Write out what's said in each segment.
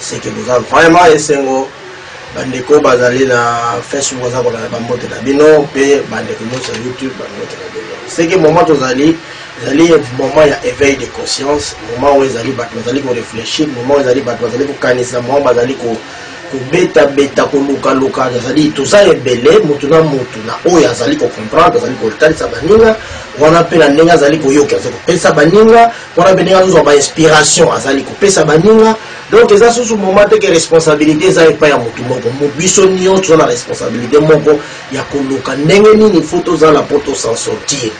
seke boza vraiment esengo bandeko bazali na facebook baza kolanda bambote na bino mpe bandeko nyonso ya youtube bambote na bino seke moment tozali ezali moment ya éveil de conscience moment oyo ezali bato bazali korefléchir moment oyo ezali bato bazali kokanisa moment bazali ko kobetabeta kolukaluka azali toza ebele motu na motu na oyo azali kocomprendre azali kotalisa baninga wana mpe na ndenge azali koyoka azali kopesa baninga wana mpe ndenge azozwa bainspiration azali kopesa baninga donc eza susu moment te ke responsabilité eza epai ya motu moko biso nyonso toza na responsabilité moko ya koluka ndenge nini fo tozala mpo tosan sortir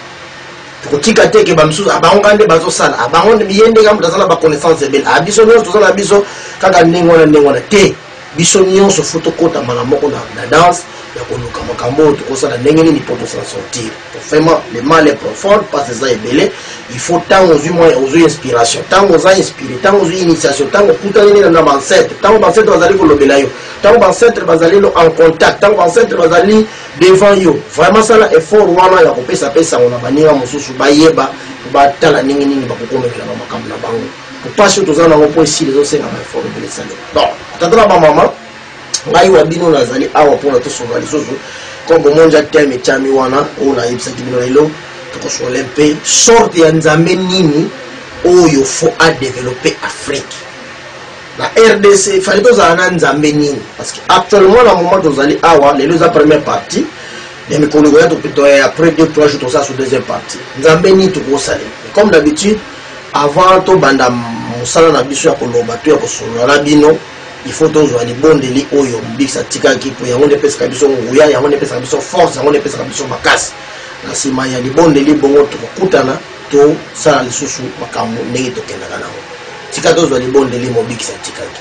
tokotika te ke bamisusu abango kaka nde bazosala abango ye ndenge moto aza na baconnaissance ebele a biso nyonso toza na biso kaka ndenge wana ndenge wana te Biso nionso faut tokota mbala moko na, na danse ya koluka makambo oyo tokosala ndenge nini mpo tosa sortir. Vraiment, le mal est profond, pasi eza ebele. Il faut ntango ozwi mwa ozwi inspiration, ntango oza inspire, ntango ozwi initiation, ntango okutani nini na bancetre, ntango bancetre bazali kolobela yo, ntango bancetre bazali en contact, ntango bancetre bazali devant yo. Vraiment sala effort wana ya kopesa mpe sango na baninga mosusu bayeba batala ndenge nini bakokomekelaka makambo na bango. mpasi oyo toza nango mpo esili ezosenga baefort ebele esalema donc tata na bamama ngai wa bino nazali awa mpona tosola lisusu comme bomoni ja teme etyami wana oyo nayebisaki bino lelo tokosola mpe sorte ya nzambe nini oyo fo adeveloppe afrique na rdc efali tozala na nzambe nini parce que actuellement na moment tozali awa lelo eza première partie ya mikolo ekoya après deux trois jours tosala so deuxième partie nzambe nini tokosalela comme d'habitude Avant to banda musala na biso ya koloba to ya kosolola na bino, il faut tozwa libondeli oyo Mobikisi atikaki, mpo yango nde epesaka biso nguya, yango nde epesaka biso force, yango nde epesaka biso makasi. Na nsima ya libondeli, bongo tokokutana, tosala lisusu makambo ndenge tokendaka na yango. Tika tozwa libondeli Mobikisi atikaki.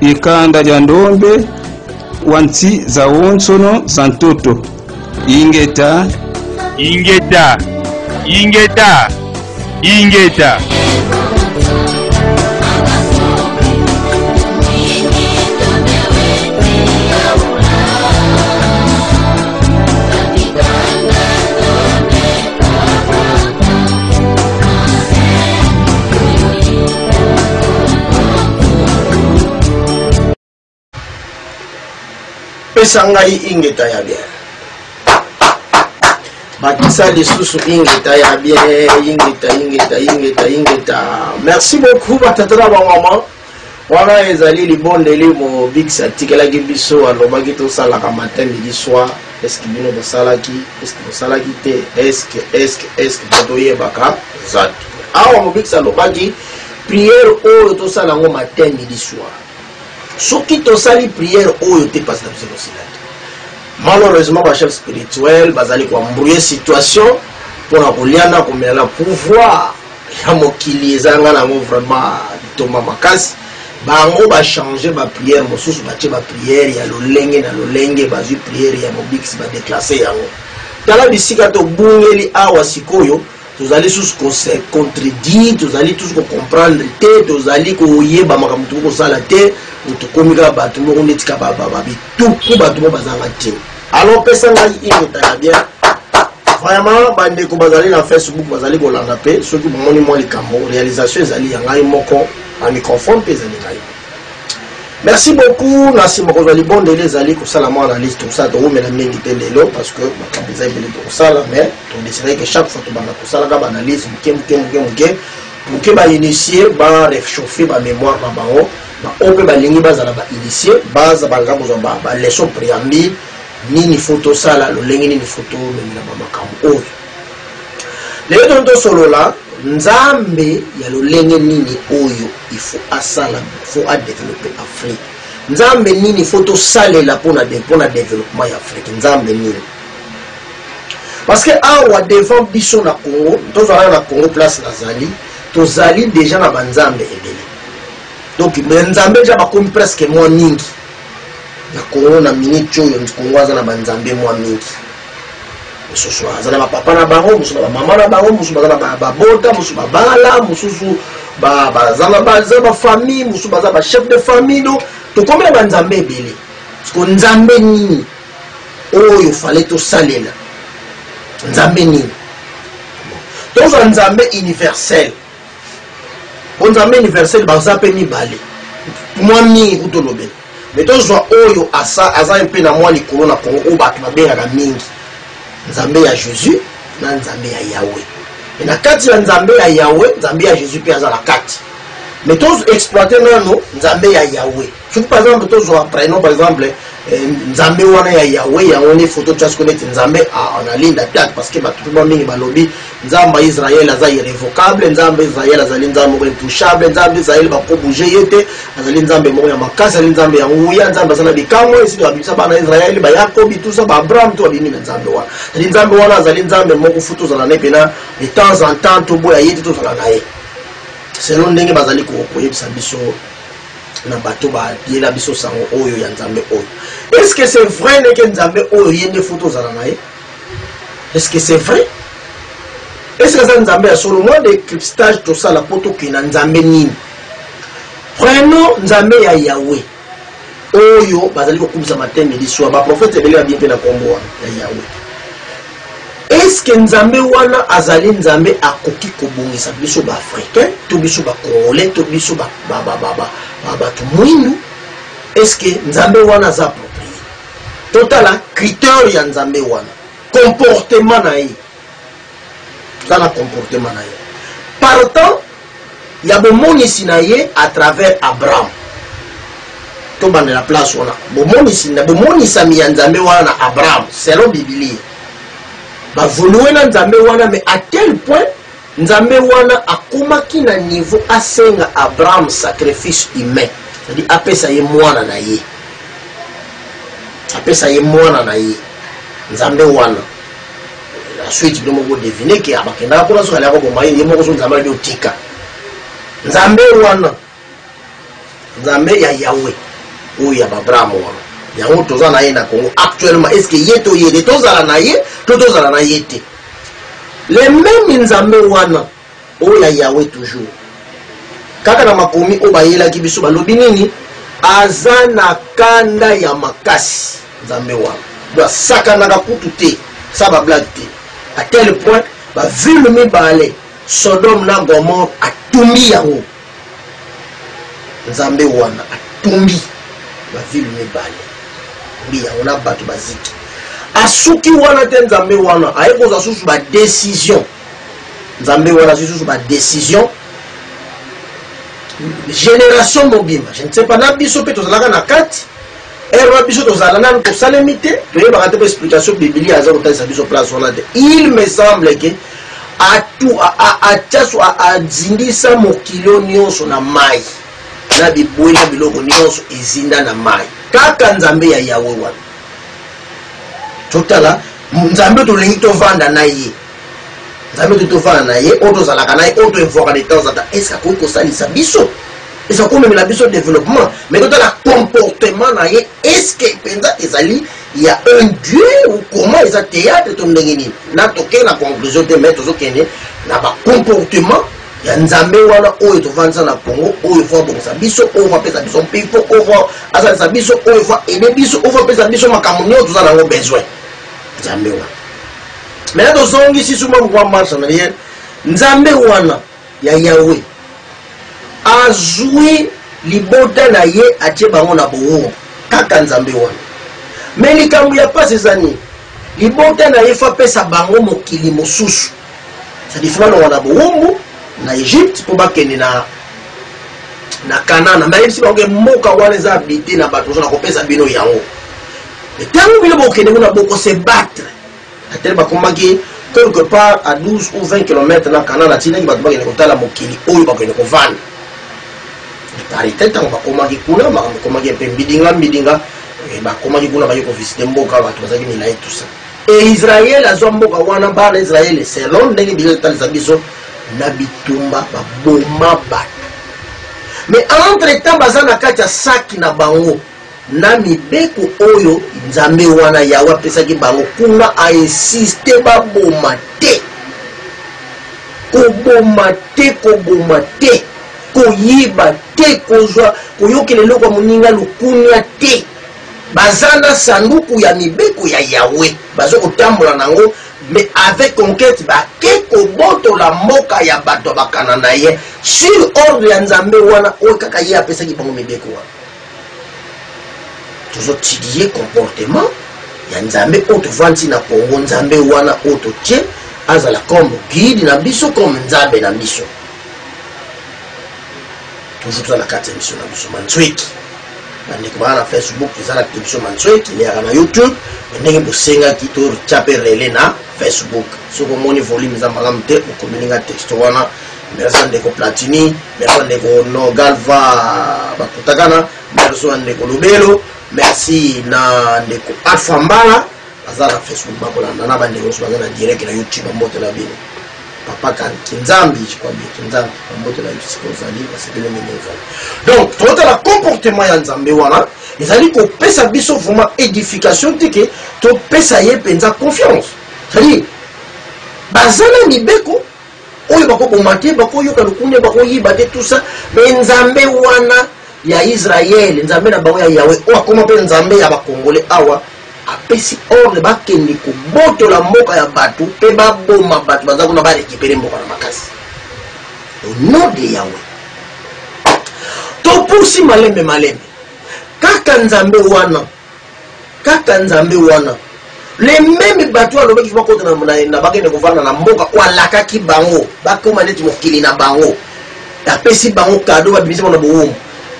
Ikanda lya ndombe wa nti za wonsono za ntoto. Ingeta. Ingeta. Ingeta. Ingeta. pesa ngai ingeta ya bien bakisa lisusu ingeta ya bien ingeta ingeta ingeta ingeta merci beaucoup batata na bamama wana ezali libondeli mobikisi atikelaki biso alobaki tosalaka matin midi soir eske bino bosalaki eske bosalaki te eske eske eske bato oyebaka eza te awa mobikisi alobaki priere oyo tosala yango matin midi soir soki tosali priere oyo te mpasi na biso tosila te malheureusement bachef spirituel bazali koembrouye situation mpo na kolia na komela na pouvoir ya mokili ezanga nango vraiment litomba makasi bango ba changer ba prière mosusu batie ba prière ya lolenge na lolenge bazwi prière ya mobikisi badeklase yango tala bisika tobungeli awa sikoyo tozali susu kose contredire tozali tusu kocomprendre te tozali koyeba makambo tokoki kosala te tokomi kaka bato moko neti kaka babituku bato moko bazanga ntina Alors pesa ngai ingeta ya bien. Vraiment bandeko bazali na Facebook bazali kolanda pe soki bomoni mwa likambo realisation ezali ya ngai moko na microphone pe ezali ngai. Merci beaucoup na sima kozwa libondeli ezali kosala mwa analyse tosala towumela mingi te lelo parce que makambo eza ebele tokosala mais todesiraki ke chaque fois tobanda kosalaka baanalyse moke moke moke moke moke bainitie barechauffe bamémoire na bango Ba oyo pe balingi bazala ba initier baza banda kozwa ba ba leçon preambule nini faut tosala lolenge nini faut tomemela ba makambo oyo lelo toni tosolola nzambe ya lolenge nini oyo il faut asala faut adeveloppe afrique nzambe nini faut tosalela mpona mpona developpement ya afrique nzambe nini parce que awa devant biso na congo tozalaka na congo place nazali tozali deja na banzambe ebele donc me nzambe ja bakomi presque mwa mingi na kongo na miniti oyo kongo aza na banzambe mwa mingi mosusu aza na bapapa na bango mosusu na bamama na bango mosusu baza na babota mosusu babala mosusu baza bafamille mosusu baza bachef de famille do tokomi na banzambe ebele siko nzambe nini oyo fale tosalela nzambe nini tozwa nzambe universel bonzambe universel baza mpe mibale mwa mingi kutolobela me tozwa oyo asa aza mpe na mwa likolo na kongo oyo bato babengaka mingi nzambe ya jésus na nzambe ya yawe e na kati ya nzambe ya yawe nzambe ya jésus mpe aza na kati me toexploite nano nzambe ya yawe soki par exemple tozwa prénom par exemple eh, nzambe wana ya yawe yango nde foto tia siko neti nzambe ah, na linda piate parce que bato mpe ba mingi balobi nzambe ya israel aza irrévocable nzambe israel azali nzambe moko intouchable nzambe israel bakobouge ye te azali nzambe moko ya makasi azali nzambe ya nguya nzambe aza na bikamwa esili babimisa bana israel bayakobi tusa baabraham to babimi na nzambe wana azali nzambe wana azali nzambe moko fu tozala na ye mpena de temps en temps toboya ye te tozala na ye selon ndenge bazali koyebisa biso na bato bayela biso sango oyo ya nzambe oyo est ce que c'est vrai ndeke nzambe oyo ye nde fo tozala na ye est ce que c'est vrai est ce que aza nzambe ya solo mwa decryptage tosala mpo tokenda nzambe nini prenons nzambe ya yawe oyo bazali kokumisa matenge liswa baprofete ebele babie mpe na nkombo ya yawe eske nzambe wana azali nzambe akoki kobongisa biso baafricain to biso bacongolais to biso bato mwindu eske nzambe wana aza approprié totala criteur ya nzambe wana comportement na ye tala comportement na ye partant ya bomonisi na ye à travers abraham tobandela place wana bomonisi na bomonisami ya nzambe wana na abraham selon bibilia bavolue na nzambe wana mais à tel point nzambe wana akomaki na niveau asenga abraham sacrifice humain cetadi apesa ye mwana na ye apesa ye mwana na ye nzambe wana la suite bino moko devine ke abakendaka kuna soki aliaka boma ye ye moko so nzambe alio tika nzambe wana nzambe ya yawe oyo ya babraham wana yango toza na ye na congo actuellement est ce que ye to ye te tozala na ye to tozala na ye te le meme nzambe wana Oh ya Yahweh toujours. Kaka na makomi oyo bayelaki biso balobi nini? Aza na kanda ya makasi Nzambe wana. Donc asakanaka kutu te, sa ba blague te. À tel point ba ville mibale Sodome na Gomorre atumbi yango. Nzambe wana atumbi ba ville mibale. Mbi yango na bato baziki. Asuki wana te Nzambe wana, aye kozwa susu ba decision. nzambe wana azwi susu badecision génération mobimba je ne sais pas na biso mpe tozalaka na kati ere wana biso tozala nanu tosalemi te toyebaka te mpo explication bibilia aza kotalisa biso place wana te il me semble ke atiaso azindisa mokilo nyonso na mai na bibwe na biloko nyonso ezinda na mai kaka nzambe ya yawe wana totala nzambe tolingi tovanda na ye Nzambe to tofana na ye oyo tozalaka na ye oyo toevoaka de temps en temps est ce akoki kosalisa biso eza komemela biso développement mais totala comportement na ye est ce que mpenza ezali ya un dieu ou comment eza théâtre to ndenge nini na tokei na conclusion te mais tozokende na bacomportement ya nzambe wana oyo tovandisa na congo oyo fo abongisa biso oyo fo apesa biso mpifo oyo fo asalisa biso oyo fo aide biso oyo fo apesa biso makambo nyonso toza na yango besoin nzambe wana Maintenant tozongisi suma pourquoi marche en arrière nzambe wana ya yawe azwi libota na ye atie bango na boongo kaka nzambe wana me likambo ya mpasi eza nini libota na ye fapesa bango mokili mosusu sadifumanoka na bowumbu na egypte mpo bakende na na kanana me ayebisi bango ke mboka wana eza abite na bato ozo na kopesa bino yango ntango bino bokende kuna bokosebattre Ata bakomaki quelque part à 12 ou 20 kilomètres na Canaan, atindaki bato bakende kotala mokili oyo bakende kovanda. De part et tel, tango bakomaki kuna, makambo ekomaki mpe mbidinga mbidinga, eh, bakomaki kuna baye kovisite mboka, bato bazalaki milai tout ça. E Israël azwa mboka wana, bana Israël selon ndenge Biblia etalisa biso na bitumba baboma bato. Mais entre temps baza na kati ya saki na bango. na mibeko oyo Nzambe wana Yawe apesaki bango kuna, a insister baboma te, koboma te, koboma te, koyiba te, kozwa koyokela eloko ya moninga lukunia te. Baza na sanduku ya mibeko ya Yawe, bazo kotambola nango mais avec conquête bake kobotola mboka ya bato ya bakananaye sur ordre ya Nzambe wana oyo kaka ye apesaki bango mibeko wana. tozotidie comportement ya nzambe oyo tovandi na congo nzambe wana oyo totie azala comme guide na biso comme nzambe na biso toujours toza na kati ya biso na biso manzweki bandeko bana na facebook eza na kati biso manzweki leyaka na youtube ndenge bosengaki totya mpe relais na facebook soki omoni volume eza malamu te okomelinga texte wana merci ndeko platini merci ndeko no galva bakutakana merci na ndeko lobelo merci na ndeko alpha mbala baza na facebook bakolanda na bandeko nyonso baza na direct na youtube bambote na bino papa kan kinzambi jikwambi kinzambi bambote na yo sika ozali basepele ndenge ozali donc totala comportement ya nzambe wana ezali kopesa biso vraiment édification te ke topesa ye mpenza confiance cetadire baza na mibeko oyo bakoboma te bakoyoka lokunia bakoyiba te tout ça mais nzambe wana ya israele nzambe na bango ya yawe oyo akoma mpe nzambe ya bakongole awa apesi ordre bakende kobotola mboka ya bato mpe baboma bato baza kuna barekipere mboka na makasi onom de yawe topusi malembe malembe kaka nzambe wana Kaka Nzambe wana. Les memes batu oyo alobaki il faut bakota na bakende kovanda na mboka oyo alakaki bango bakoma neti mokili na bango. Apesi bango cadeau babimisi bango na bowumbu.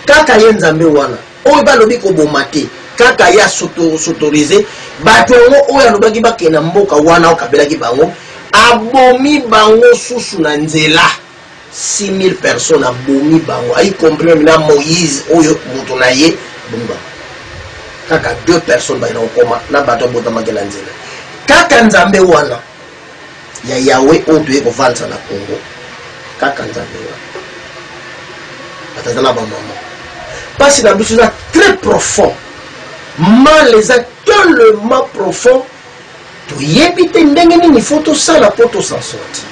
Kaka ye Nzambe wana oyo balobi koboma te. Kaka ye asautorize batu yango oyo alobaki bakende na mboka wana oyo akabelaki bango abomi bango susu na nzela. 6000 personnes abomi bango ayi comprendre na moïse oyo moto na ye bomi bango kaka deux personnes baye na kokoma na bato abotamaki na nzela kaka nzambe wana ya yawe oyo toye kovandisa na congo kaka nzambe wana batata na bamama mpasi na biso eza très profond mal eza tellement profond toyebi te ndenge nini fo tosala mpo tosan sorti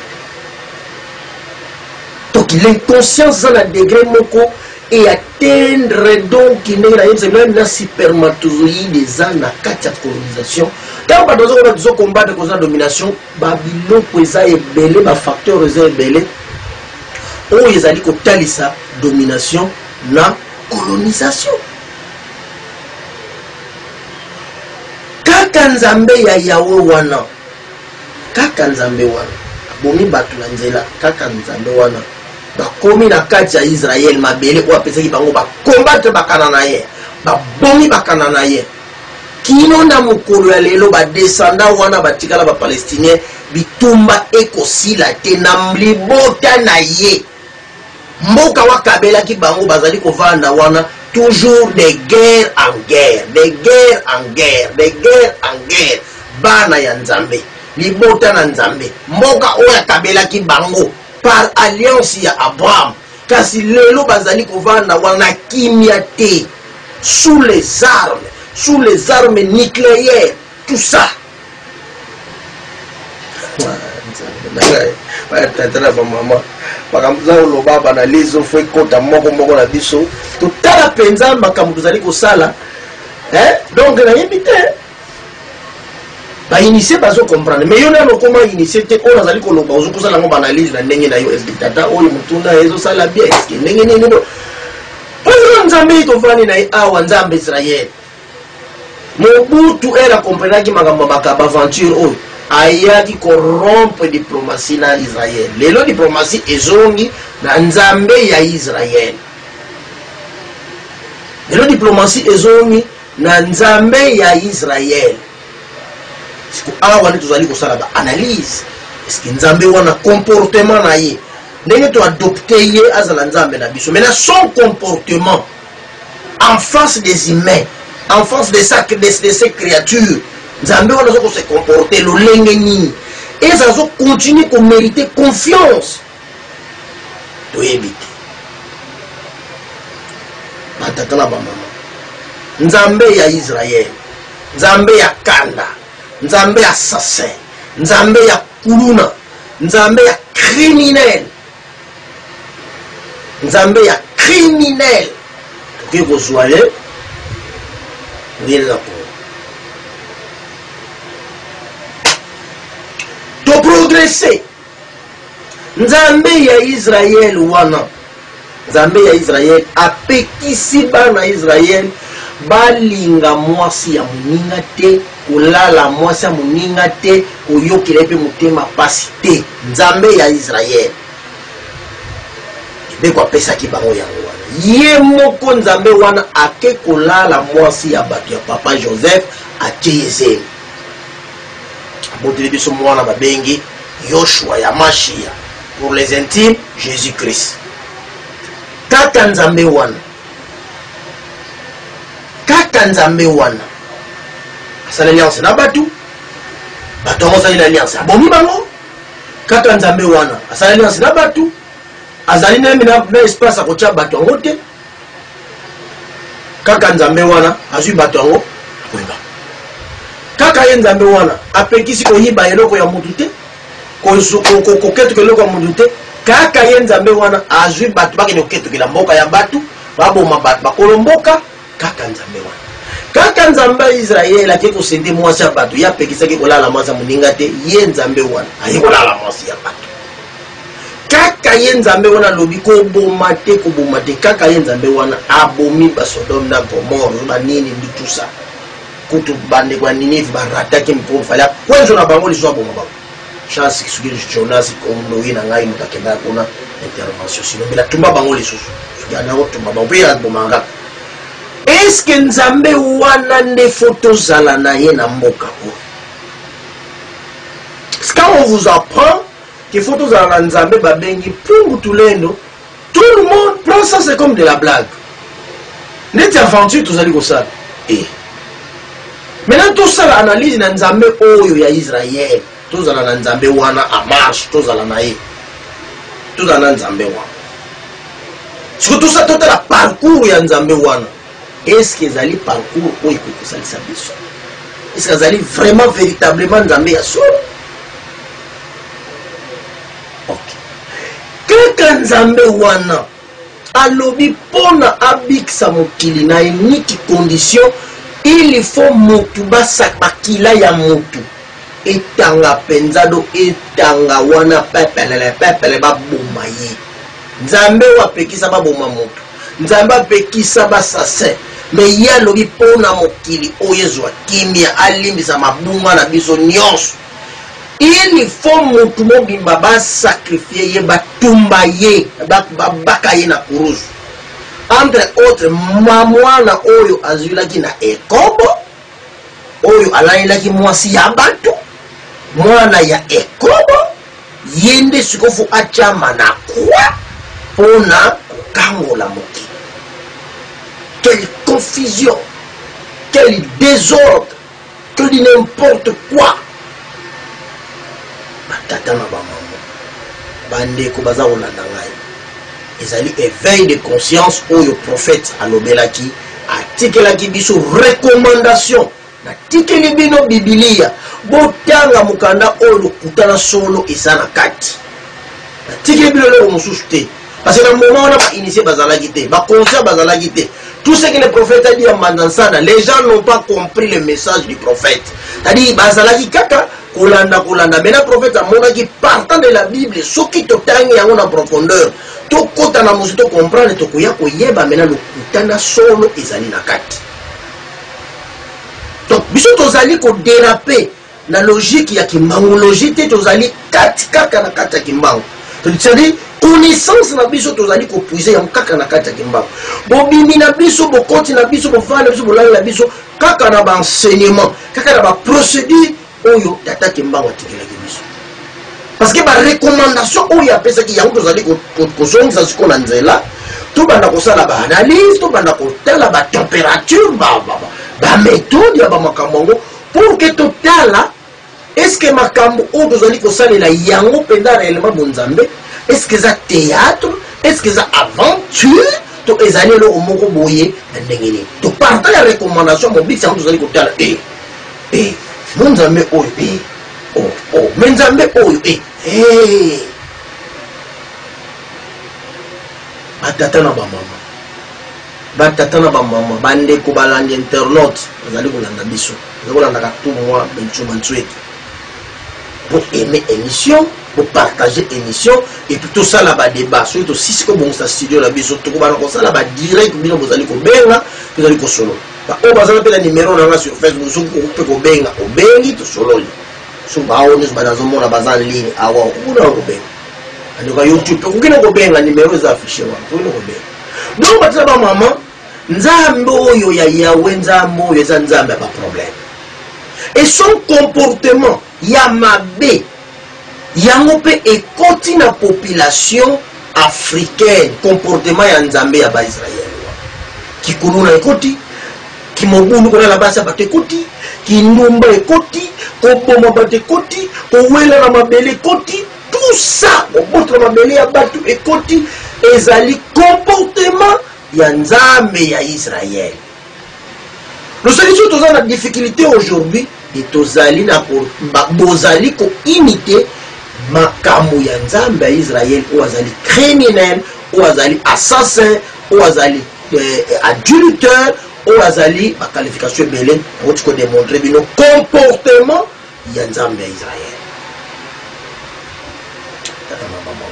donc l'inconscience eza na degre moko e atteindre donc ndenge nayebisa meme na supermatozoïde eza na kati ya colonisation ntango bato bazokoba tozokombatre koza domination babiloko eza ebele bafacteur eza ebele oyo ezali kotalisa domination na colonisation kaka nzambe ya yawe wana kaka nzambe wana abomi bato na nzela kaka nzambe wana bakomi na kati ya israele mabele oyo apesaki bango bakombatre bakana na ye babomi bakana na ye kino na mokolo ya lelo badesanda wana batikala bapalestinien bitumba ekosila te na libota na ye Mboka wa kabelaki bango bazali kovanda wana toujours de guerre en guerre, de guerre en guerre, de guerre en guerre. Bana ya Nzambe, libota na Nzambe, mboka oyo akabelaki bango par alliance ya Abraham, kasi lelo bazali kovanda wana na kimia te, sous les armes, sous les armes nucleaires, tout ça. tata na bamama makambo toza koloba banalyse ofo ekota moko moko na biso totala mpenza makambo tozali kosala donc nayebi te bainitie bazo comprendre mais yo nano okoma initie te oyo nazali koloba ozo kosala yango baanalyse na ndenge na yo eske tata oyo motuna ezosala bien eske ndenge nini oyo nzambe ye tovandi na ye awa nzambe israele Mobutu heure a comprenaki makambo ya ba aventure oyo ayaki ko rompre diplomatie na Israël. Lelo diplomatie ezongi na Nzambe ya Israël. Lelo diplomatie ezongi na Nzambe ya Israël. Siko awa nde tozali kosala ba analyse eske Nzambe wana comportement na ye ndenge to adopte ye azala Nzambe na biso mais na son comportement en face des humains en face de, sa, de, de ces créatures nzambe wana aza kose comporte lolenge nini eza azo continue komerite confiance toyebi te batata na bamama nzambe ya israel nzambe ya kanda nzambe ya assassin nzambe ya kuluna nzambe ya criminel Nzambe ya criminel tokoki kozwa ye oyelela kongo toprogrese nzambe ya israele wana nzambe ya israele apekisi bana israele balinga mwasi ya moninga te Kolala mwasi ya moninga te, koyokela ye mpe motema pasi te. Nzambe ya Israel, mibeko apesaki bango yango wana. Ye moko Nzambe wana ake kolala mwasi ya bato ya papa Joseph, atie ye zemi. Aboteli biso mwana babengi Yoshua ya Mashia, pour les intimes, Jesus-Christ. Tata Nzambe wana. Kaka Nzambe wana asali alliance na batu, batu yango asali na alliance abomi bango. Kaka Nzambe wana asali alliance na batu, azali na na espace akotya batu yango te. Kaka Nzambe wana azwi batu yango akoyeba. Kaka ye Nzambe wana apekisi koyiba eloko ya mutu te. koketukela eloko ya mutu te kaka ye nzambe wana azwi bato bakende koketukela mboka ya bato baboma bato bakolo mboka kaka nzambe wana kaka nzambe ya israele ake kosende mwasi ya bato ye apekisaki kolala mwasi ya moninga te ye nzambe wana aye kolala mwasi ya bato kaka ye nzambe wana alobi koboma te koboma te kaka ye nzambe wana abomi basodome na gomore banini bitusa Kutu bandeko ya Ninive ba rataki mpo fale akwenzo na bango lisusu aboma bango. Chance soki Jonas Kondoyi na ngai moto akendaka kuna intervention sino mbela tumba bango lisusu soki ana otumba bango mpe abomaka kaka. Eske Nzambe wana nde fo tozala na ye na mboka oyo? Quand on vous apprend qu'il faut tozala na Nzambe babengi Pungu Tulendo tout le monde prend ça c'est comme de la blague neti aventure tozali kosala e eh. maintenant tosala analyse na nzambe oyo ya israel tozala na nzambe wana a marche tozala na ye tozala na nzambe wana soki tosa totala parcours ya nzambe wana eske ezali parcours oyo ekoki kosalisa biso eske azali vraiment véritablement nzambe ya solo kaka nzambe wana alobi mpo na abikisa mokili na ye niki condition il faut motu basakakila ya motu etanga mpenza do etanga wana pepelele pepele baboma ye nzambe oyo apekisa baboma motu nzambe apekisa basasin me ye alobi mpo na mokili oyo ezwa kimia alimbisa mabunga na biso nyonso Il faut mutu mobimba ba sacrifier ye ba tumba ye ba baka ye na kuruzu entre autres mamwana oyo azwilaki na ekobo oyo alalelaki mwasi ya batu mwana ya ekobo ye nde sikofu atyama na kwa mpo na kokangola mokili quelle confusion quel désordre To dit n'importe quoi. Batata na bamama, bandeko baza kolanda ngai. Ezali éveil de conscience oyo prophète alobelaki, atikelaki biso recommandation. Natikeli bino Biblia, botanga mokanda oyo lokuta na solo eza na kati. Natikeli bino eloko mosusu te. Parce que na moment wana ba initié bazalaki te, ba conscients bazalaki te. Tout ce que le prophète a dit à Mandansana, les gens n'ont pas compris le message du prophète. C'est-à-dire bazalaki kaka kolanda kolanda. Mais na prophète amonaki partant de la Bible, soki totangi yango na profondeur, tokota na mosu to comprendre tokoya koyeba mena lokuta na solo ezali na kati. Donc biso tozali ko déraper na logique ya kimbangu logique te tozali kati kaka na kati ya kimbangu c'est-à-dire connaissance na biso tozali kopuise yango kaka na kati ya kimbangu bobimi na biso bokoti na biso bovandi na biso bolali na biso kaka na baenseignement kaka na baprocédure oyo tata kimbangu atikelaki biso parce que barecommandation oyo apesaki yango tozali kozongisa sikoyo na nzela tobanda kosala baanalyse tobanda kotala batempérature baméthode ya bamakambo yango Pour que totala est ce que makambo oyo tozali kosalela yango mpenza reellement bonzambe est ce que eza théâtre est ce que eza aventure to ezali eloko moko boye na ndenge nini toparta ya recommandation mobikisi yango tozali kotala e eh, e eh, mo nzambe oyo e eh, o oh, o oh, me nzambe oyo e hey. batata na bamama Ba tata na ba maman, ba ndeko balandi internaute bazali kolanda biso. Bazali kolandaka tout moi Bencho Mansuetu. Bo aimer emission, bo partager emission et puis to sala ba débat. Soki to sisi ko bongisa studio na biso, toko bana ko sala ba direct bino bozali ko benga, tozali ko solo. Ba o bazala pe na numéro na nga sur Facebook, soki ko pe ko benga, obengi to sololi. So ba o nus bana zo mona baza ligne awa, kuna ko benga. Andoka YouTube, ko kino ko benga numéro za affiché wa, ko kino ko benga. donc bato na bamama nzambe oyo ya yawe nzambe oyo eza nzambe ya baproblème et son comportement ya mabe yango mpe ekoti na population africaine comportement ya nzambe ya baisraele kikuluna ekoti kimobulu kolala basi ya bato ekoti kindumba ekoti koboma bato ekoti kowela na mabele ekoti Tout ça kobotola mabele ya batu ekoti ezali comportement ya Nzambe ya Israël. Losaki soki toza na difficulté aujourd'hui et tozali na ko bozali ko imiter makambo ya Nzambe ya Israël oyo azali criminel, oyo azali assassin, oyo azali eh, adultère, oyo azali ba qualification ebele, moti ko démontrer bino comportement ya nzambe ya israele tata mama mama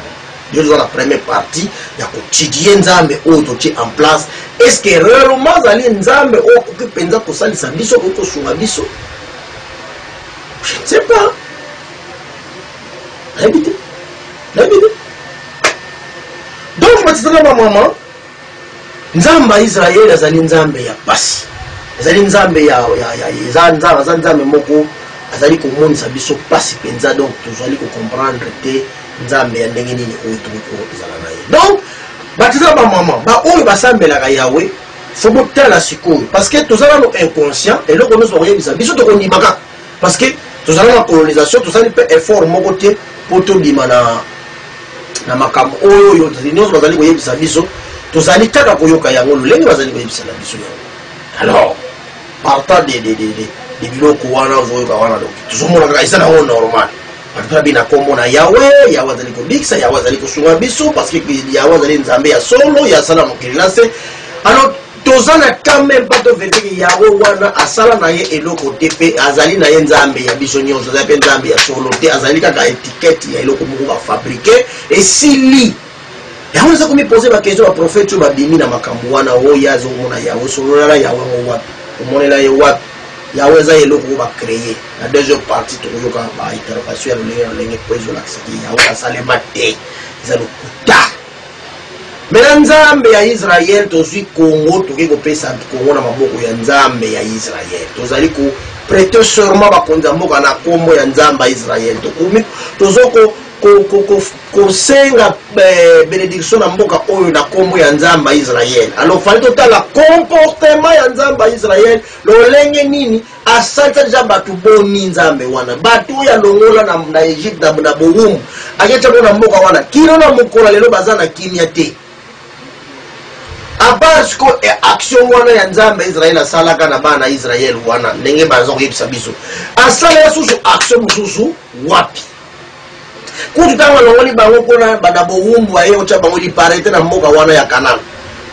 yo eza na première partie ya kotidie nzambe oyo totie en place est ce que réellement azali nzambe oyo akoki mpenza kosalisa biso akoki kosunga biso je ne sais pas nayebi te nayebi te donc matitana bamama Nzambe ya Israël azali Nzambe ya pasi. Azali Nzambe ya, ya, ya, eza Nzambe, aza Nzambe moko azali komonisa biso pasi penza, donc tozali ko comprendre te Nzambe ya ndenge nini oyo tokoki kozala na ye. Donc bato eza ba maman ba oyo basambelaka Yahweh faut botala sikoyo parce que toza nano inconscient eloko nyonso bakoyebisa biso tokondima kaka parce que tozala na colonisation tosali mpe effort moko te mpo tobima na na makambo oyo oyo nyonso bazali koyebisa biso tozali kaka koyoka yango lolenge bazali koyebisela biso yango alors partant de, de, de, de, de biloko wana ozoyoka wana donc tozomona kaka eza nango normal atutabi na nkombo na yawe yawe azali kobikisa yawe azali kosunga biso parce que yawe azali nzambe ya solo ya asala mokili na se alors toza na temps meme pas to vete ke yango wana asala na ye eloko te mpe azali na ye nzambe ya biso nyonso azali mpe nzambe ya solo te azali kaka etikete ya eloko moko bafabrike esili yango naza komipose bakestio baprofete oyo babimi na makambo wana oyo oh, ye azomona yango solola na yango yango wapi omonela ye wapi yango eza eloko oyo bacreye na deuxième partie tokoyokaka baintervention ya lolenge na lolenge mpo ezolakisa te yango asalema te eza lokuta Mais na nzambe ya Israël tozui Congo toke kopesa Congo na maboko ya nzambe ya Israël tozali ko prete serment bakonzi ya mboka na kombo ya nzambe ya Israël tokomi tozoko kosenga eh, benediction na mboka oyo na kombo ya nzambe ya Israël alors fali totala comportement ya nzambe ya Israël lolenge nini Asalisa dejà batu boni nzambe wana batu oyo alongola na, na Egypte na, na bowumbu aketia bo na mboka wana kino na mokolo lelo baza na kimia te apart siko e action wana ya nzambe israel asalaka na bana israel wana ndenge baza koyebisa biso asalaka susu action mosusu wapi kutu ntango alongoli bango mpo na banda bowumbu aye kotya bango liparete na mboka wana ya kanana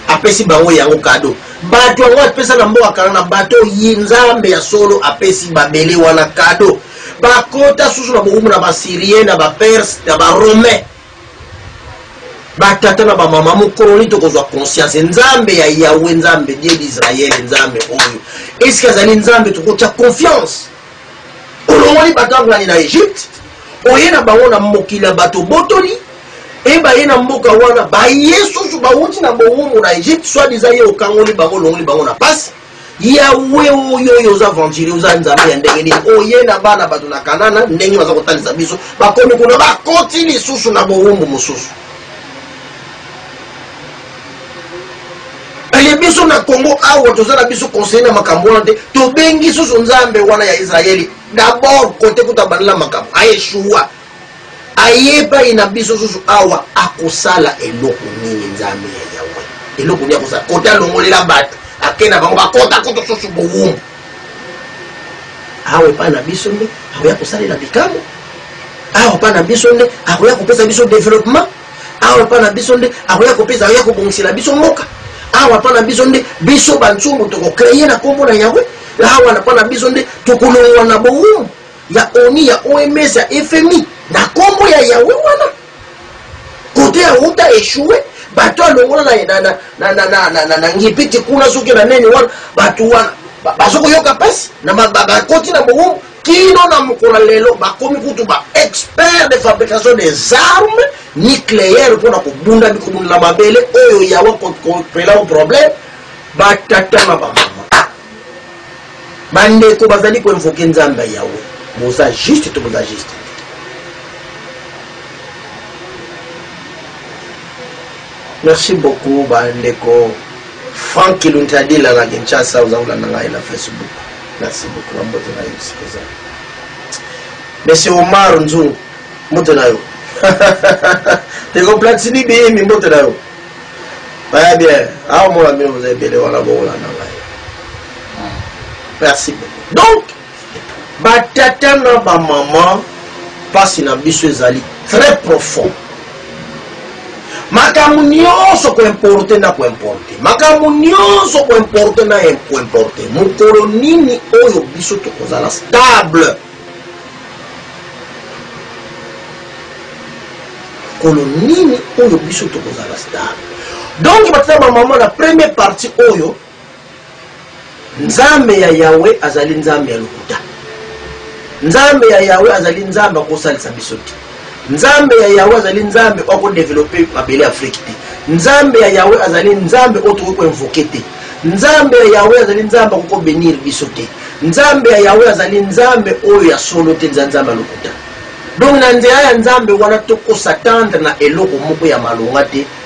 apesi bango yango kado bato yango apesa na mboka kanana bato yi nzambe ya solo apesi babele wana kado bakota susu na bowumbu na basyrien na baperse na baromain batata na bamama mokolo nini tokozwa conscience nzambe ya yawe nzambe die d'israele nzambe oyo eske azali nzambe tokotya confiance Olongoli bato ya ngani na Egypte, oye na bango na mokili ya bato obotoli, e baye na mboka wana, baye susu bawuti na bowumbu na Egypte, soit disant ye okangoli bango, olongoli bango na pasi. Yawe oyo oyo oza aventurier, oza nzambe ya ndenge nini? Oye na bana bato na Kanana, ndenge baza kotalisa biso, bakomi kuna, bakoti lisusu na bowumbu mosusu. eye biso na congo awa toza na biso conseille na makambo wana te tobengi susu nzambe wana ya israeli dabord kote kuta bandela makambo aeshuwa aye epai na biso susu awa akosala eloko nini nzambe ya yawe eloko nini akosala kote alongolela bato ake na bango bakota kutu susu bowumbu awa epai na biso nde akoya kosalela bikambo awa epai na biso nde akoya kopesa biso developpement awa epa na biso nde akoya kopesa akoya kobongisela biso mboka awa epa na biso nde biso banzungu tokokreye na nkombo na yawe awa na epa na biso nde tokolongwa na bowumu ya oni ya oms ya fmi na nkombo ya yawe wana kote ya uta echoue bato alongola na ngipiti kuna soki na neni wana bato wana bazokoyoka mpasi bakoti na bowumu Kino na mokolo ya lelo, bakomi kutu ba experts de fabrication des armes nucleaires mpo na kobunda mikobunda na mabele oyo yawa kopela o problème batata na bamama bandeko bazali koinvoke nzambe ya yawe boza juste to boza juste merci beaucoup bandeko frank kilunti adila na kinshasa oza kolanda ngai na facebook Merci beaucoup na mbote na yo esika ozali. Monsieur Omar Nzungu, mbote na yo. Ndeko Platini Biyimbi, mbote na yo. Baya bien, awa mona bino boza ebele wana bokolanda ngai. Merci beaucoup. Donc, batata na bamama, mpasi na biso ezali très profond. makambo nyonso koimporte na koimporte makambo nyonso koimporte na koimporte mokolo nini oyo biso tokozala stable mokolo nini oyo biso tokozala stable donc batata bamama na premier partie oyo Nzambe ya Yawe azali Nzambe ya lokuta. Nzambe ya Yawe azali Nzambe akosalisa biso te. Nzambe ya Yawe azali Nzambe oyo akodevelope mabele Afrique te. Nzambe ya Yawe azali Nzambe oyo tokoki koinvoke te. Nzambe ya Yawe azali Nzambe akoki kobenir biso te. Nzambe ya Yawe azali Nzambe oyo ya solo te, nza Nzambe ya lokuta. Donc na nzela ya Nzambe wana tokosatendre na eloko moko ya malonga te.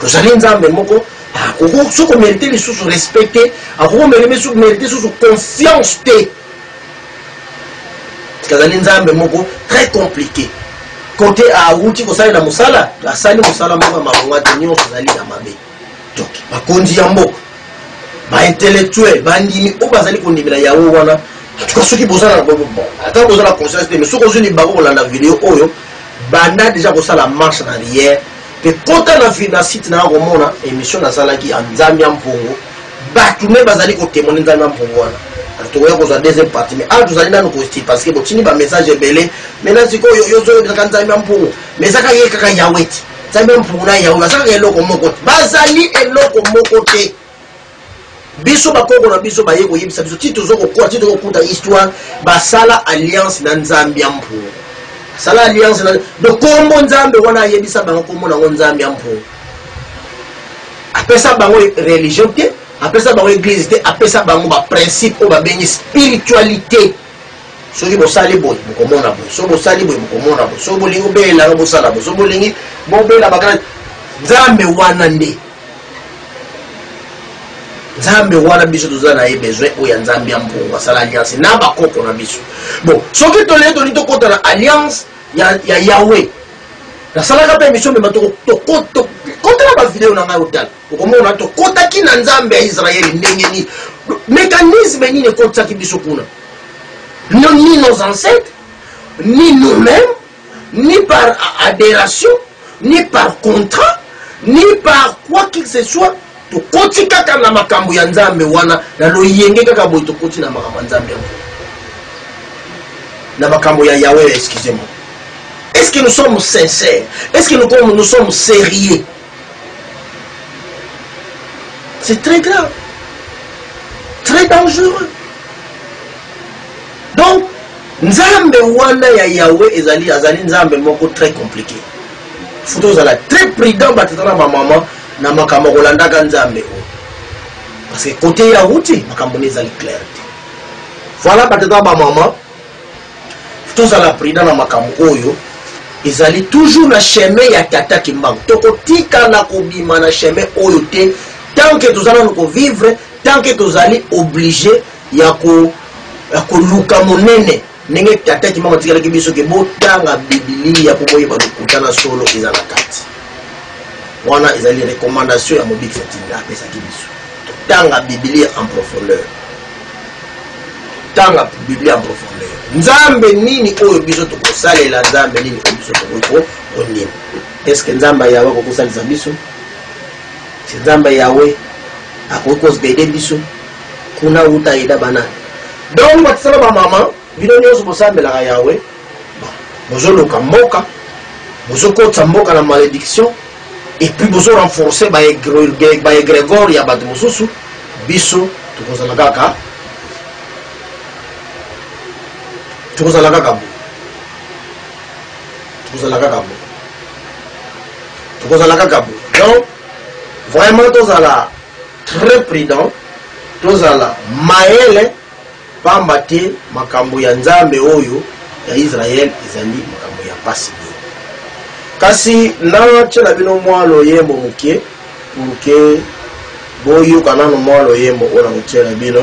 tozali nzambe moko akoki soki omerite lisusu respect te akoki omerite lisusu confiance te azali nzambe moko très compliqué kote awuti kosalela mosala asali mosala moko ya malonga te nyonso ezali ya mabe donc bakonzi ya mboka baintellectuel bandimi oyo bazali kondimela yawe wana tuka soki bozala ata bozala conscience te mais soki ozwi libango kolanda video oyo banda deja kosala marche na riere mpe kota na vi na site naya komona emission nazalaki ya nzambe ya mpongo bato nde bazali kotemone nzambe ya mpongo wana tokoya kozwa deuxième partie mais awa tozali nanu kosti parce que botindi bamessage ebele mai na sikoyo yozoyebisaka nzambe ya mpongo mais ezaka ye kaka yawe ti nzambe ya mpongo na yawe bazalaka eloko moko te bazali eloko moko te biso bakoko na biso baye koyebisa biso ti tozo kokola ti tokokuta histoire basala alliance na nzambe ya mpuo sala alliance na do kombo nzambe wana ayebisa bango kombo nango nzambe ya mpuo apesa bango religion te apesa bango eglise te apesa bango baprincipe oyo babengi spiritualité soki bosali boye bokomona boye soki bosali boye bokomona boye soki bolingi obelelanga bosala boye soki bolingi bobela bakala nzambe wana nde nzambe wana biso toza na ye besoin oyo ya nzambe ya mpongo asala alliance na bakoko na biso bon soki tolee toli tokota na alliance ya, ya yawe nasalaka mpe emission mema tokota na bavideo na ngai otala okomona tokotaki na nzambe ya israele ndenge nini mécanisme nini ekotisaki biso kuna ni nos ancêtres ni nous-mêmes ni par aderation ni par contrat ni par quoi qui que ce soit tokoti kaka na makambo ya nzambe wana na loyenge kaka boye tokoti na makambo ya nzambe yango na makambo ya yawe excusez-moi est ce que nous sommes sincères est ce que nous, nous sommes sérieux C'est très grave. Très dangereux. Donc, Nzambe wana ya Yahweh ezali azali Nzambe moko très compliqué. Faut ozala très prudent batata na maman na makambo kolandaka Nzambe oyo. Parce que côté ya wuti makambo ezali clair. Voilà batata ba maman tozala prudent na makambo oyo ezali toujours na chemin ya tata kimbangu tokotikala kobima na chemin oyo te tant que toza nanu kovivre tant que tozali oblige ya koluka monene ndenge tata kimbangu atikalaki biso ke botanga bibilia mpo boyeba lokuta na solo eza na kati wana ezali recommandation ya mobikisi atinda apesaki biso totanga bibilia en profondeur Tanga Biblia en profondeur. Nzambe nini oyo biso tokosalela, Nzambe nini oyo biso tokoki kondima? Est-ce que Nzambe Yahweh akoki kosalisa biso? Se Nzambe Yahweh akoki kozgede biso kuna uta eda banani? Donc batisala ba maman Bino nionso bosambelaka Yahweh, bozoluka mboka, bozokotisa mboka na malediction, et puis bozo renforcer ba egregore ya bato mosusu, biso tokozala kaka tokozala kaka bo tokozala kaka bo tokozala kaka bo donc vraiment tozala très prudent tozala mayele Pamba te makambo ya Nzambe oyo ya Israel ezali makambo ya pasi mingi. Kasi na tiela bino mwa loyembo moke, pour que bo yoka nanu mwa loyembo oyo na ko tiela bino.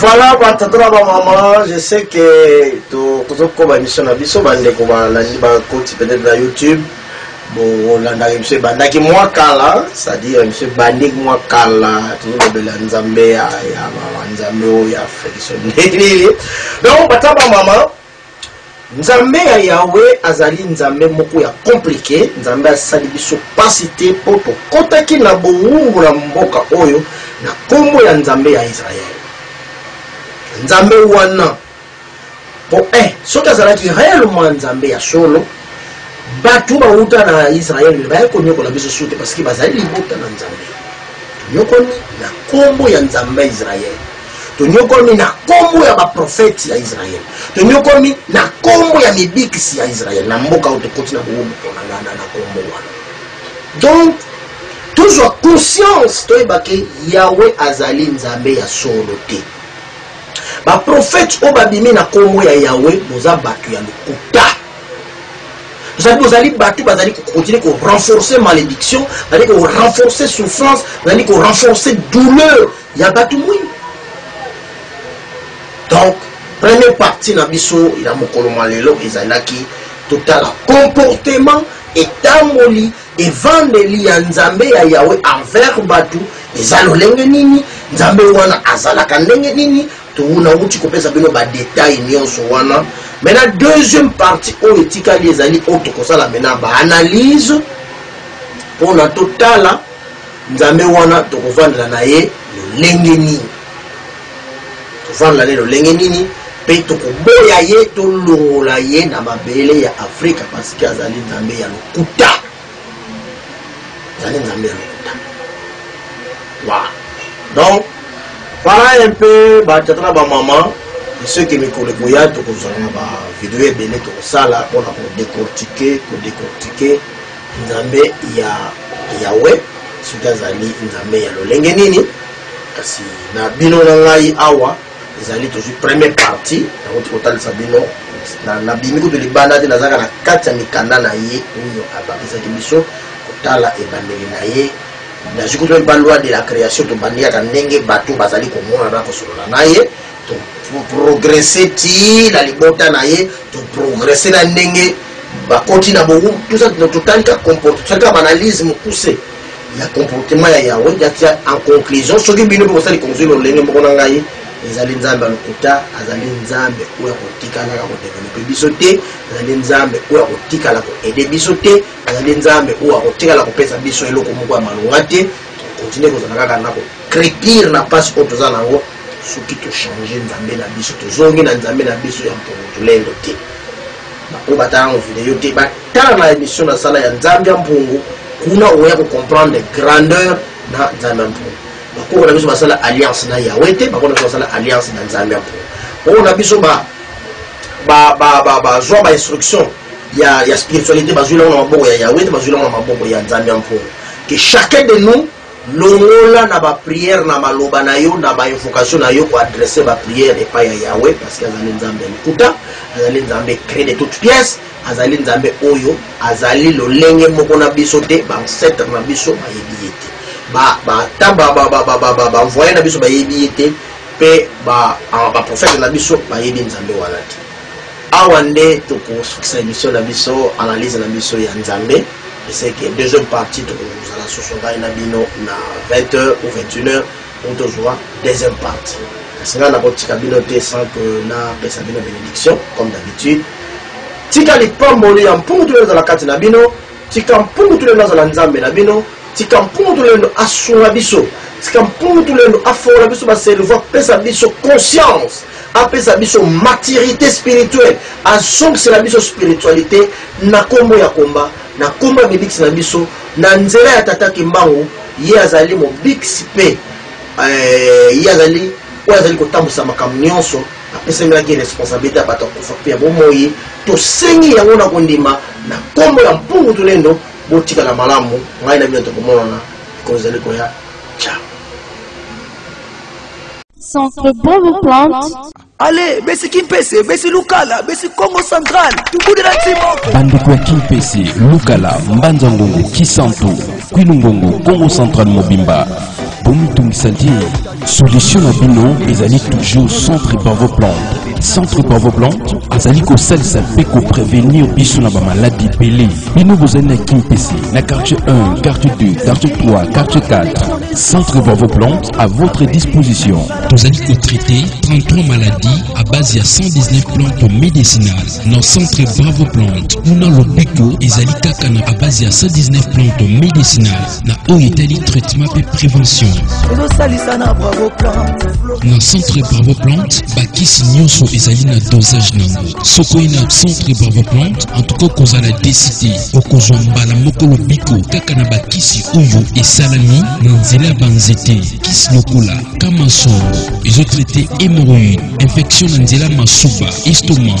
voilà batata na bamama je sais que tozokoma émission na biso bandeko balandi bakoti peut-être na youtube bolandaka biso ebandaki mwa kala c'est-à-dire biso ebandiki mwa kala tozolobela nzambe ya nzambe oyo ya feliso nini donc bata bamama nzambe ya yawe azali nzambe moko ya komplike nzambe asali biso mpasi te mpo tokotaki na bowumbu na mboka oyo na nkombo ya nzambe ya israele nzambe wana po eh, soki azalaki réellement nzambe ya solo bato bawuta na israele baye konyokola biso sute parceke bazali libota na nzambe tonyokomi na nkombo ya nzambe ya israele tonyokomi na nkombo ya baprofeti ya israele tonyokomi na nkombo ya mibikisi ya israele na mboka oyo tokoti na bowobo mpona na nkombo wana donc tozwa conscience toyebake yawe azali nzambe ya solo te Ba prophètes oyo babimi na kombo ya Yahweh boza batu ya lokuta. Bozali bozali batu bazali ko continuer ko renforcer malédiction, bazali ko renforcer souffrance, bazali ko renforcer douleur ya batu mwindu. Donc première partie na biso ya mokolo mwa lelo ezalaki totala comportement etamboli Evandeli ya Nzambe ya Yahweh envers batu eza lolenge nini? Nzambe wana azalaka ndenge nini? Tuna wuti kopesa bino ba details nionso wana. Maintenant deuxième partie oyo etikali ezali oyo tokosala maintenant ba analyse pona totala Nzambe wana tokovandela na ye lolenge nini. Toza na lelo lenge nini pe tokoboya ye tolongola ye na mabele ya afrika parceke azali nzambe ya lokuta azali nzambe ya lokuta wa donc wana un peu batata na bamama soki mikolo ekoya tokozala na bavideo ebele tokosala mpona kodecortike kodecortike Nzambe ya Yawe, soki azali Nzambe ya lolenge nini? Kasi na bino na ngai awa ezali tozwi premier partie nakoti kotalisa bino nabimi kutu libanda te nazalaka na kati ya mikanda na ye oyo abakisaki biso kotala ebandeli na ye nazwi kutu mpe loi de la création tobandi yaka ndenge bato bazali komonana kosolola na ye progresse ti na libota na ye toprogresse na ndenge bakoti na bongo totali ka comporte totali ka baanalyse mokuse ya comportement ya yawe yatia en conclusion soki bino mpe bosali conclusion lolenge moko na ngai ezali nzambe ya lokuta azali nzambe oyo akotikalaka kodevelope biso te azali nzambe oyo akotikala koede biso te azali nzambe oyo akotikala kopesa biso eloko moko ya malonga te continue kozala kaka na kocrepire na mpasi oyo toza na yango Soki to changer nzambe na biso, tozongi na nzambe na biso ya mpungu tulendo te. Baoyo batala yango video te, batala na emission na sala ya nzambe ya mpungu, kuna oya ko comprendre grandeur na nzambe ya mpungu. Bakoko na biso basala alliance na Yahweh te, bakoko na biso basala alliance na nzambe ya mpungu. Oyo na biso ba ba ba ba ba zwa ba instruction ya ya spiritualité bazwi lango na maboko ya Yahweh te, bazwi lango na maboko ya nzambe ya mpungu. Que chacun de nous Longola na ba prière na maloba na yo na ba invocation na yo ko adresser ba prière epai ya Yahweh parce que azali Nzambe ya lokuta, azali Nzambe cree de toute pièce, azali Nzambe oyo azali lolenge moko na biso te, ba ancêtre na biso bayebi ye te. Ba ba ta ba ba ba ba ba ba ba envoyer na biso bayebi ye te pe ba ba prophète na biso bayebi Nzambe wana te. Awa nde tokosukisa emission na biso analyse na biso ya Nzambe eseke deuxième partie tokozala susu ngai na bino na 20h ou 21h ou tozwa deuxième partie kasi ngai nakotika bino te sans que napesa bino bénédiction comme d'habitude tika lipamboli ya mpungu toyozala kati na bino Tika mpungu tulendo azala Nzambe na bino. Tika mpungu tulendo asunga biso. Tika mpungu tulendo afongola biso ba cerveau, apesa biso conscience, apesa biso maturite spirituelle, azongisela biso spiritualite na kombo ya komba, na kombo ya bibikisi na biso, na nzela ya Tata Kimbangu, ye azali mobikisi pe eh, ye azali oyo azali kotambwisa makambo nyonso apesamelaki responsabilite ya bato ya kufa mpe ya bomoi tosengi yango na kondima na nkombo ya mpungu tulendo botikala malamu ngai na bino tokomonana mikolo ezali koya ciao Centre Bobo Plante. ale besi kimpese besi lukala besi congo central tubudela ntimoko bandeko ya kimpese lukala mbanza ngongo kisantu kwilungongo kongo central mobimba bomitungisa te solution na bino ezali toujours centre bravo plante centre bravo plante azali kosalisa mpe koprevenir biso na bamaladi ebele bino bozali na kimpese na quartier 1 quartier 2 quartier 3 quartier 4 centre bravo plante à votre disposition tozali kotraite 33 maladies à base ya 119 plantes médicinales na centre bravo plante kuna lobiko ezali kaka na à base ya 119 plantes médicinales na oyo etali traitement mpe prévention na centre bravo plante bakisi nyonso ezali na dosage na yango soki oye na centre bravo plante antuka okozala deside okozwa mbala moko lobiko kaka na bakisi oyo esalami na nzela ya banzete kisi lokola kamansongo ezotraite hémorroïde infection na nzela masuba estomac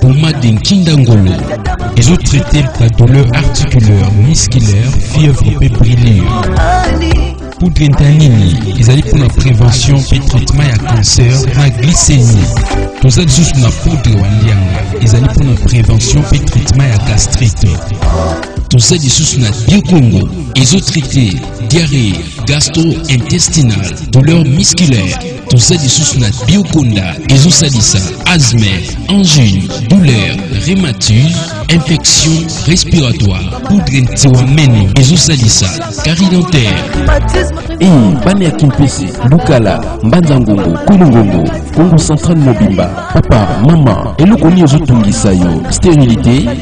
Pommade Nkinda Ngolo ezo traiter ba douleur articulaire, musculaire, fièvre mpe brûlure. Poudre Ntanini ezali mpo na prévention mpe traitement ya cancer na glycémie. Toza lisusu na poudre wa lianga ezali mpo na prévention mpe traitement ya gastrite. Toza lisusu na Diokongo ezo traiter diarrhée gastro-intestinale, douleur musculaire. toza lisusu na biokonda ezosalisa asthme angine douleur rhématise infection respiratoire poudre ntiwa meno ezosalisa kari dentaire ii bana ya kimpese lukala mbanza ngongo kwelo ngongo kongo central mobimba papa mama eloko nini ezotungisa yo sterilité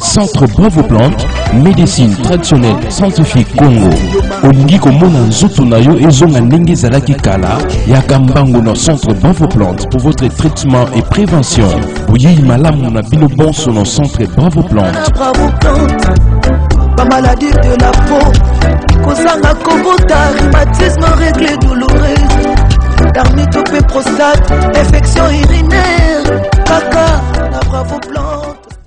Centre Bravo Plante, médecine traditionnelle scientifique Congo. Olingi komona nzoto na yo ezonga ndenge ezalaki kala, yaka mbango na Centre Bravo Plante pour votre traitement et prévention. Boyeyi malamu na bino bonso na Centre Bravo Plante. Bravo Plante, ba maladie de la peau, kozanga kobota, rhumatisme, règles douloureuses, dermite ou prostate, infection urinaire, kaka na Bravo Plante.